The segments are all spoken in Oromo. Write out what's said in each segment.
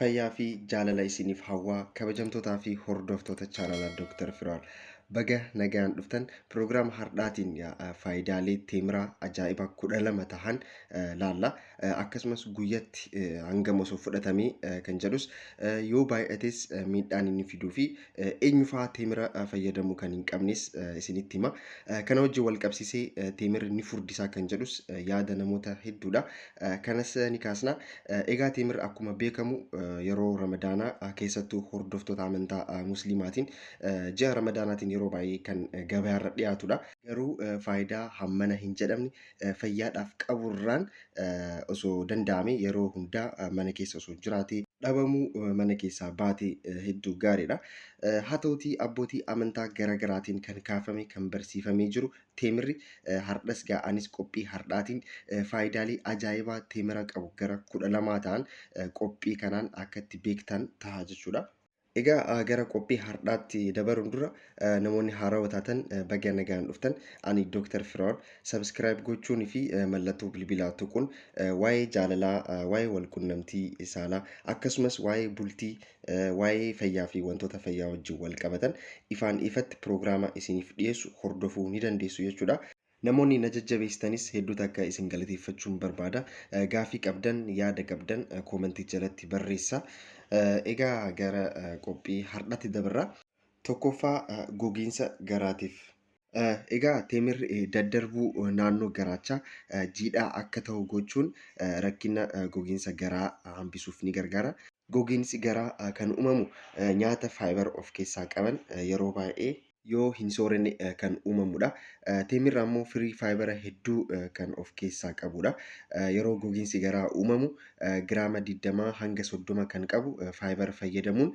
Fayyaa fi jaalala isiniif hawwaa kabajamtootaa fi hordoftoota chaanala Dr. Firaal. Baga nagaan dhuftan piroogiraama hardhaatiin yaa- faayidaalee teemiraa ajaa'iba kudha lama tahan eh, laalla. Eh, Akkasumas guyyatti eh, hangam osoo fudhatamee eh, kan jedhus eh, yoo baay'ates eh, miidhaan inni fiduu fi Eenyufaa teemira fayyadamuu kan hin qabnes isinitti hima. Kana wajjin wal qabsiisee teemirri ni furdisaa kan jedhus yaada namoota hedduudha. Kanas ni kaasna. Egaa teemirri akkuma beekamu yeroo ramadaanaa keessattuu hordoftoota amantaa musliimaatiin ji'a ramadaanaatiin yeroo baay'ee kan gabaarra dhiyaatudha. Garuu faayidaa hammana hin jedhamne fayyaadhaaf qaburraan osoo danda'ame yeroo hundaa mana keessa osoo jiraatee dhabamuu mana keessaa baatee hedduu gaariidha. Haa ta'utii abbootii amantaa gara garaatiin kan kaafame kan barsiifamee jiru teemirri hardhas gaa anis qophii hardhaatiin faayidaalee ajaa'ibaa teemira qabu gara kudha lamaa ta'an qophii kanaan akka itti beektan taha jechuudha. Egaa gara qophii hardhaatti dabaruun dura namoonni haarawa taatan baga nagaan dhuftan. Ani Dr. Firaa'ol. Subscribe gochuun fi mallattoo bilbilaa tuquun waa'ee jaalalaa, waa'ee walqunnamtii saalaa akkasumas waa'ee bultii, waa'ee fayyaa fi wantoota fayyaa wajjin wal qabatan ifaan ifatti piroogiraama isiniif dhiyeessu hordofuu ni dandeessu jechuudha. Namoonni na jajjabeessitanis hedduu takka isin galateeffachuun barbaada. Gaafii qabdan, yaada qabdan koomentii jalatti barreessa. Egaa gara qophii har'atti dabarra. Tokkoffaa gogiinsa garaatiif. Egaa teemirri daddarbuu naannoo garaachaa jiidhaa akka ta'u gochuun rakkina gogiinsa garaa hambisuuf ni gargaara. Gogiinsi garaa kan uumamu nyaata fiber of keessaa qaban yeroo baay'ee. yoo hin soorenne kan uumamudha. Teemirri ammoo firii faayibara hedduu kan of keessaa qabudha. Yeroo gogiinsi garaa uumamu giraama 20 hanga 30 kan qabu faayibara fayyadamuun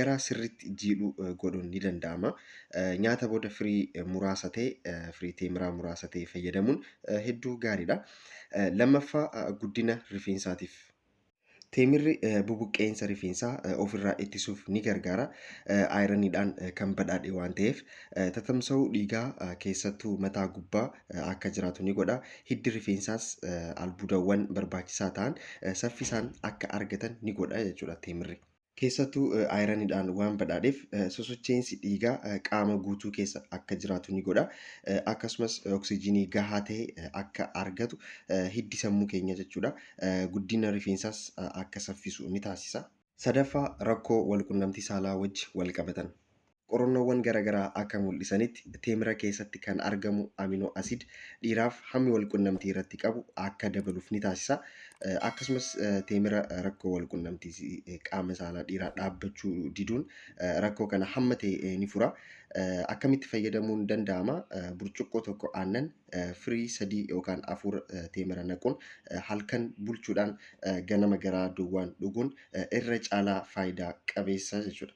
garaa sirriitti jiidhu godhuun ni danda'ama. Nyaata booda firii muraasa ta'e, firii teemiraa muraasa ta'e fayyadamuun hedduu gaariidha. Lammaffaa guddina rifeensaatiif. Teemirri bubuqqeensa rifeensaa ofirraa ittisuuf ni gargaara. Ayiraniidhaan kan badhaadhe waan ta'eef tatamsa'uu dhiigaa keessattuu mataa gubbaa akka jiraatu ni godha. Hiddi rifeensaas albuudawwan barbaachisaa ta'an saffisaan akka argatan ni godha jechuudha teemirri. Keessattuu ayiraniidhaan waan badhaadheef sosocheensi dhiigaa qaama guutuu keessa akka jiraatu ni godha. Akkasumas oksijiinii gahaa ta'e akka argatu hiddi sammuu keenya jechuudha guddina rifeensaas akka saffisu ni taasisa. Sadaffaa rakkoo walqunnamtii saalaa wajji walqabatan. Qorannoowwan garagaraa akka mul'isanitti teemira keessatti kan argamu amino acid dhiiraaf hammi walqunnamtii irratti qabu akka dabaluuf ni taasisa. Akkasumas teemira rakkoo walqunnamtii qaama saalaa dhiiraa dhaabbachuu diduun rakkoo kana hamma ta'e ni fura. Akkamitti fayyadamuun danda'ama? Burcuqqoo tokko aannan firii sadii yookaan afur teemira naquun halkan bulchuudhaan ganama garaa duwwaan dhuguun irra caalaa faayidaa qabeessa jechuudha.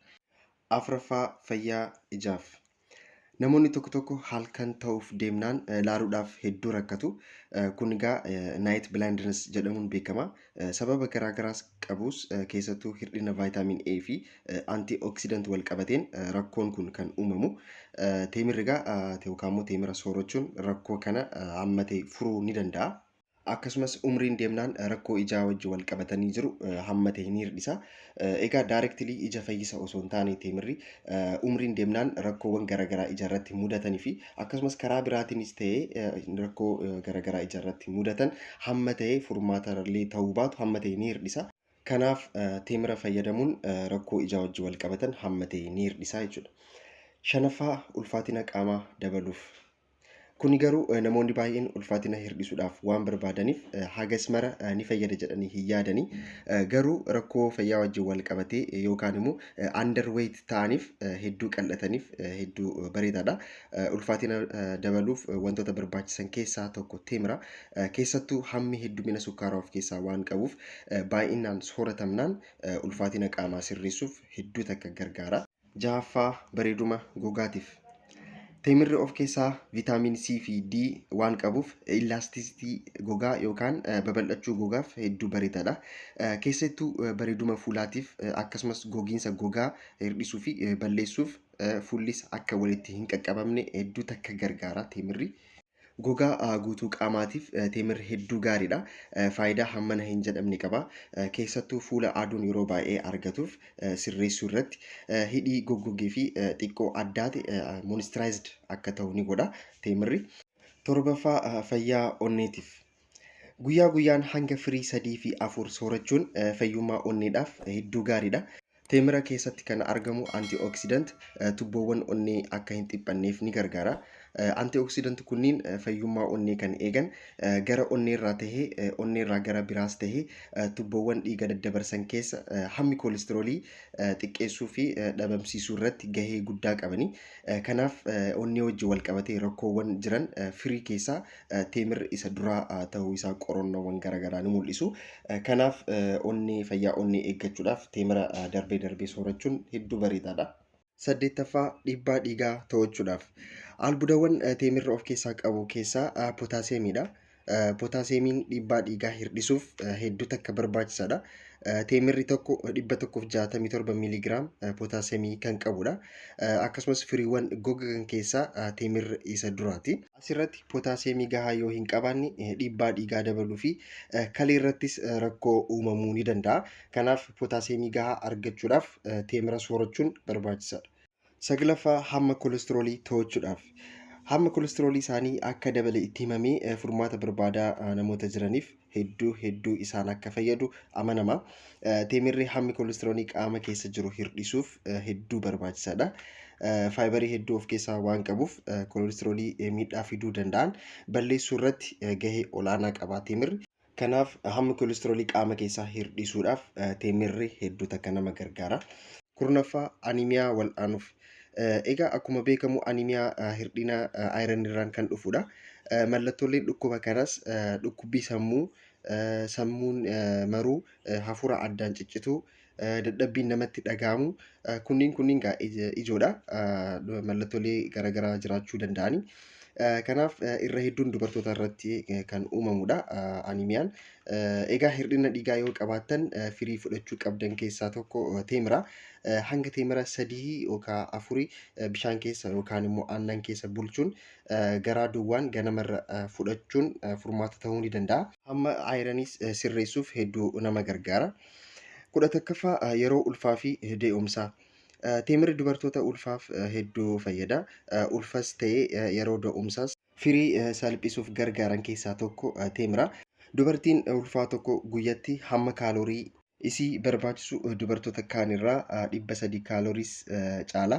4ffaa Fayyaa Ijaaf Namoonni tokko tokko halkan ta'uuf deemnaan laaluudhaaf hedduu rakkatu. Kun egaa night blindness jedhamuun beekama. Sababa garaa garaas qabus keessattuu hir'ina vaayitaamin A fi antioxidant wal qabateen rakkoon kun kan uumamu. Teemirri egaa yookaan immoo teemira soorachuun rakkoo kana hammatee furuu ni danda'a. akkasumas umriin deemnaan rakkoo ijaa wajji wal qabatanii jiru hamma ta'e ni hir'isa. Egaa daarektilii ija fayyisa osoo hin taane teemirri umriin deemnaan rakkoowwan garaagaraa ija irratti mudatanii fi akkasumas karaa biraatiinis ta'ee rakkoo garaagaraa ija irratti mudatan hamma ta'e furmaata illee ta'uu baatu hamma ta'e ni hir'isa. Kanaaf teemira fayyadamuun rakkoo ijaa wajji wal qabatan hamma ta'e ni hir'isa jechuudha. Shanaffaa ulfaatina qaamaa dabaluuf. Kuni garuu eh, namoonni baay'een ulfaatina hir'isuudhaaf waan barbaadaniif eh, hagas mara eh, ni fayyada jedhanii hin yaadani. Eh, Garuu rakkoo fayyaa wajjin wal qabatee eh, yookaan immoo eh, underweight ta'aniif eh, hedduu qal'ataniif eh, hedduu eh, bareedaadha. Eh, Ulfaatina eh, dabaluuf eh, wantoota barbaachisan keessaa tokko teemira. Eh, Keessattuu hammi heddumina sukkaaraa of keessaa waan qabuuf eh, baay'inaan sooratamnaan eh, ulfaatina qaamaa sirreessuuf hedduu takka gargaara. Jahaffaa, bareeduma gogaatiif. Teemirri of keessaa viitaamin C fi D waan qabuuf illaastisitii gogaa yookaan babal'achuu gogaaf hedduu bareedaadha. Keessattuu bareeduma fuulaatiif akkasumas gogiinsa gogaa hir'isuu fi balleessuuf fuullis akka walitti hin qaqqabamne hedduu takka gargaara teemirri. Gogaa guutuu qaamaatiif teemirri hedduu gaariidha. Faayidaa hammana hin jedhamne qaba. Keessattuu fuula aduun yeroo baay'ee argatuuf sirreessuu irratti hidhii goggogee fi xiqqoo addaate moistiraayizd akka ta'u ni godha teemirri. Torbaffaa fayyaa onneetiif Guyyaa guyyaan hanga firii sadii fi afur soorachuun fayyummaa onneedhaaf hedduu gaariidha. Teemira keessatti kan argamu antioxidant tubboowwan onnee akka hin dhiphanneef ni gargaara. Antioxidant kunniin fayyummaa onnee kan eegan gara onneerraa tahee onneerraa gara biraas tahee tubboowwan dhiiga daddabarsan keessa hammi koolistiroolii xiqqeessuu fi dhabamsiisuu irratti gahee guddaa qabani. Kanaaf onnee wajjin wal qabatee rakkoowwan jiran firii keessaa Teemir isa duraa ta'uu isaa qorannoowwan garaagaraa ni mul'isu. Kanaaf onnee fayyaa onnee eeggachuudhaaf teemira darbee darbee soorachuun hedduu bareedaadha. Saddeettaffaa dhiibbaa dhiigaa to'achuudhaaf albuudawwan teemirri of keessaa qabu keessaa pootaasiyeemiidha. Pootaasiyeemiin dhiibbaa dhiigaa hir'isuuf hedduu takka barbaachisaadha. Teemirri tokko 167 miiliigiraam pootaasiyeemii kan qabudha. Akkasumas firiiwwan gogan keessaa teemirri isa duraati. Asirratti pootaasiyeemii gahaa yoo hin qabaanne dhiibbaa dhiigaa dabaluu fi kalee irrattis rakkoo uumamuu ni danda'a. Kanaaf pootaasiyeemii gahaa argachuudhaaf teemira soorachuun barbaachisaadha. Saglaffaa hamma kolestiroolii to'achuudhaaf. Hamma kolestiroolii isaanii akka dabale itti himamee furmaata barbaadaa namoota jiraniif hedduu hedduu isaan akka fayyadu amanama. Teemirri hammi koolistiroonii qaama keessa jiru hir'isuuf hedduu barbaachisaadha. Faayibarii hedduu of keessaa waan qabuuf koolistiroolii miidhaa fiduu danda'an balleessuu irratti gahee olaanaa qaba teemirri. Kanaaf hammi koolistiroolii qaama keessaa hir'isuudhaaf teemirri hedduu takka nama gargaara. Kurnaffaa animiyaa wal'aanuuf Egaa akkuma beekamu animiyaa hir'ina ayiran irraan kan dhufudha. Mallattooleen dhukkuba kanas dhukkubbii sammuu, sammuun maruu, hafuura addaan ciccituu, dadhabbiin namatti dhaga'amu kunniin kunniin gaa ijoodha. Mallattoolee garaagaraa jiraachuu danda'ani. Kanaaf irra hedduun dubartoota irratti kan uumamudha animiyaan. Egaa hir'ina dhiigaa yoo qabaattan firii fudhachuu qabdan keessaa tokko teemira. hanga teemira sadii yookaan afurii bishaan keessa yookaan immoo aannan keessa bulchuun garaa duwwaan ganamarra fudhachuun furmaata ta'uu ni danda'a. Hamma ayiraniis sirreessuuf hedduu nama gargaara. Kudha takkaffaa yeroo ulfaa fi dee'umsaa. Teemirri dubartoota ulfaaf hedduu fayyada. Ulfas ta'ee yeroo da'umsaas Firii salphisuuf gargaaran keessaa tokko teemira. Dubartiin ulfaa tokko guyyatti hamma kaalorii. isii barbaachisu dubartoota kaan irraa 300 kaaloris caala.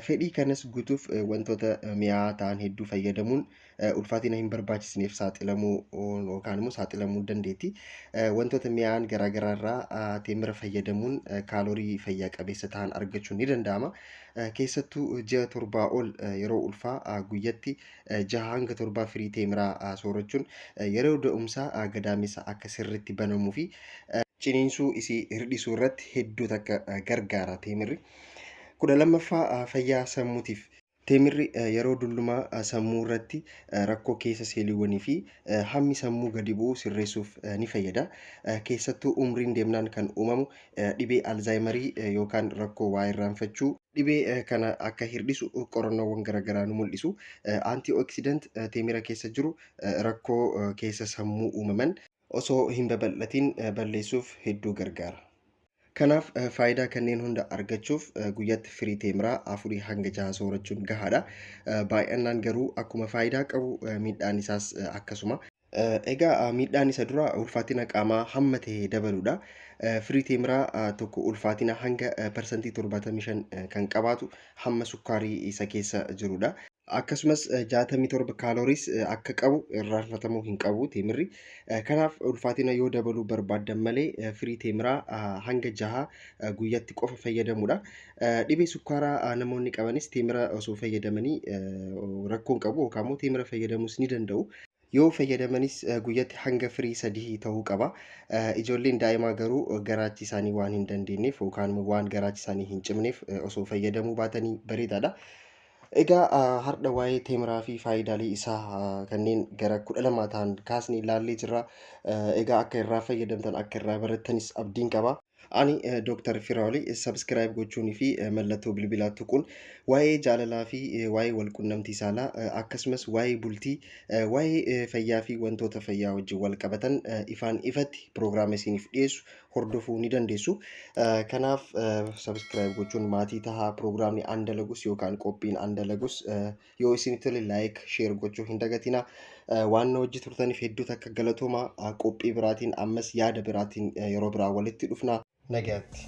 Fedhii kanas guutuuf wantoota mi'aawaa ta'an hedduu fayyadamuun ulfaatina hin barbaachisneef saaxilamuu yookaan immoo saaxilamuu dandeetti. Wantoota mi'aawaan garaagaraa irraa teemira fayyadamuun kaalorii fayyaa qabeessa ta'an argachuun ni danda'ama. Keessattuu ji'a torbaa ol yeroo ulfaa guyyatti jaha hanga torbaa firii teemiraa soorachuun yeroo da'umsaa gadaamessa akka sirriitti banamuu fi ciniinsuu isii hirdhisuu irratti hedduu takka gargaara teemirri. Kudha lammaffaa fayyaa sammuutiif. Teemirri yeroo dullumaa sammuu irratti rakkoo keessa seeliiwwanii fi hammi sammuu gadi bu'u sirreessuuf ni fayyada. Keessattuu umriin deemnaan kan uumamu dhibee alzaayimarii yookaan rakkoo waa irraanfachuu dhibee kana akka hir'isu qorannoowwan garaagaraa nu mul'isu. Antiioksidant teemira keessa jiru rakkoo keessa sammuu uumaman osoo hin babal'atiin balleessuuf hedduu gargaara. Kanaaf faayidaa kanneen hunda argachuuf guyyaatti firii teemiraa afurii hanga jaha soorachuun gahaadha. Baay'annaan garuu akkuma faayidaa qabu miidhaan isaas akkasuma. Egaa miidhaan isa dura ulfaatina qaamaa hamma ta'e dabaluudha. Firii teemiraa tokko ulfaatina hanga parsantii 75 kan qabaatu hamma sukkaarii isa keessa jirudha. Akkasumas 67 kaalooriis akka qabu irraanfatamuu hin qabu teemirri. Kanaaf ulfaatina yoo dabaluu barbaaddan malee firii teemiraa hanga jaha guyyatti qofa fayyadamuudha. Dhibee sukkaaraa namoonni qabanis teemira osoo fayyadamanii rakkoon qabu yookaan immoo teemira fayyadamuus ni danda'u. Yoo fayyadamanis guyyatti hanga firii sadii ta'uu qaba. Ijoolleen daa'imaa garuu garaachi isaanii waan hin dandeenyeef yookaan immoo waan garaachi isaanii hin cimneef osoo fayyadamuu baatanii bareedaadha. Egaa har'a waa'ee teemiraa fi faayidaalee isaa kanneen gara kudha lamaa ta'an kaasnee ilaallee jirra. Egaa akka irraa fayyadamtan akka irraa barattanis abdiin qaba. Ani eh, Dr. Firaoli eh, subscribe gochuunii fi eh, mallattoo bilbilaa tuquun waa'ee jaalalaa fi eh, waa'ee walqunnamtii saalaa eh, akkasumas waa'ee bultii, eh, waa'ee eh, fayyaa fi wantoota fayyaa wajjin wal qabatan eh, ifaan ifatti piroogiraama isiniif dhiyeessu hordofuu ni dandeessu. Eh, Kanaaf eh, subscribe gochuun maatii tahaa piroogiraamni aan dalagus yookaan qophiin aan dalagus eh, yoo isin tole laayik sheer gochuu hin dagatina waan na wajji turtaniif hedduu takka galatooma qophii biraatiin ammas yaada biraatiin yeroo biraa walitti dhufna nagaatti.